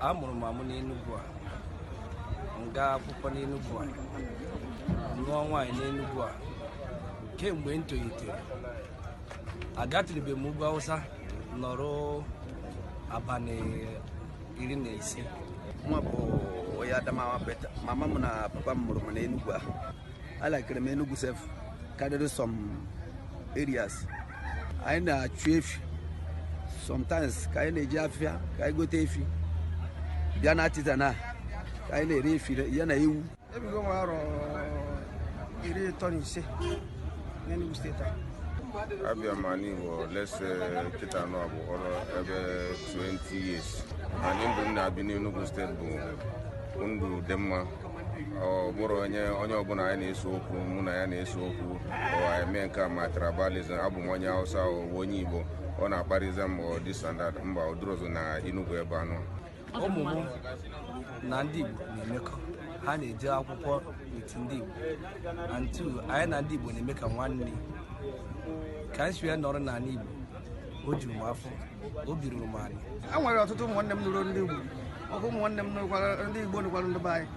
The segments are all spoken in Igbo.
a mụrụ m amụ n'Enugu a m gaa akwụkwọ n'Enugu a nụọ nwaanyị n'Enugu a kemgbe m tolitere agatụrụbe m ugwu Awụsa nọrọ abalị iri na ise mụwa bụ onye Adamawa but mama m na papa m mụrụ m n'Enugu a alakịrị m Enugu sef karịrị some areas anyị na-achụ efi sometimes ka anyị na-eje afịa ka anyị gote efi bịa na Artisan ka anyị na-ere efi ya na ewu ebigo m arọ iri ịtọ na ise n'Enugu steeti a abịa m anị Igbo at least kịta anọ bụ ọrụ ebe 20 years and ndụ m na-ebi n'Enugu steeti bụ ndụ dị mma ọ bụrụ onye onye ọbụla anyị na-ese okwu mụ na ya na-ese okwu or anyị mee nke a ma tribalism abụ m onye Hausa ọ bụ onye Igbo ọ na-akparịza m this and that mba ọ dịrọzị na Enugu ebe a nọ ụmụ m na ndị Igbo na-emekọ ha na-eje akwụkwọ n'etiti ndị Igbo and two anyị na ndị Igbo na-eme ka nwanne ka anyị si wee nọrọ n'anị Igbo o juru m afọ obi ruru m anị e nwere ọtụtụ ụmụnne m nụrụ ndị Igbo ọkụ ụmụnne m nụrụkwara ndị Igbo nụkwara ndị be anyị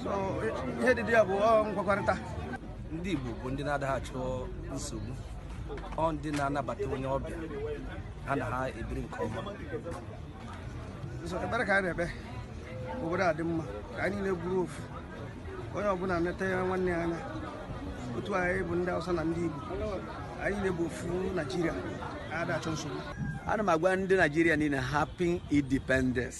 so ihe dị dị ya bụ nkwekọrịta ndị Igbo bụ ndị na-adaghị achọ nsogbu ọ ndị na-anabata onye ọbịa ha na ha ebiri nke ọma so ekpere ka anyị na-ekpe obodo a dị mma ka anyị niile bụrụ ofu onye ọbụla netaa nwanne ya anya otu anyị bụ ndị Hausa na ndị Igbo anyị niile bụ ofu Naijiria ada achọ nsogbu ana m agwa ndị Naijiria niile happy independence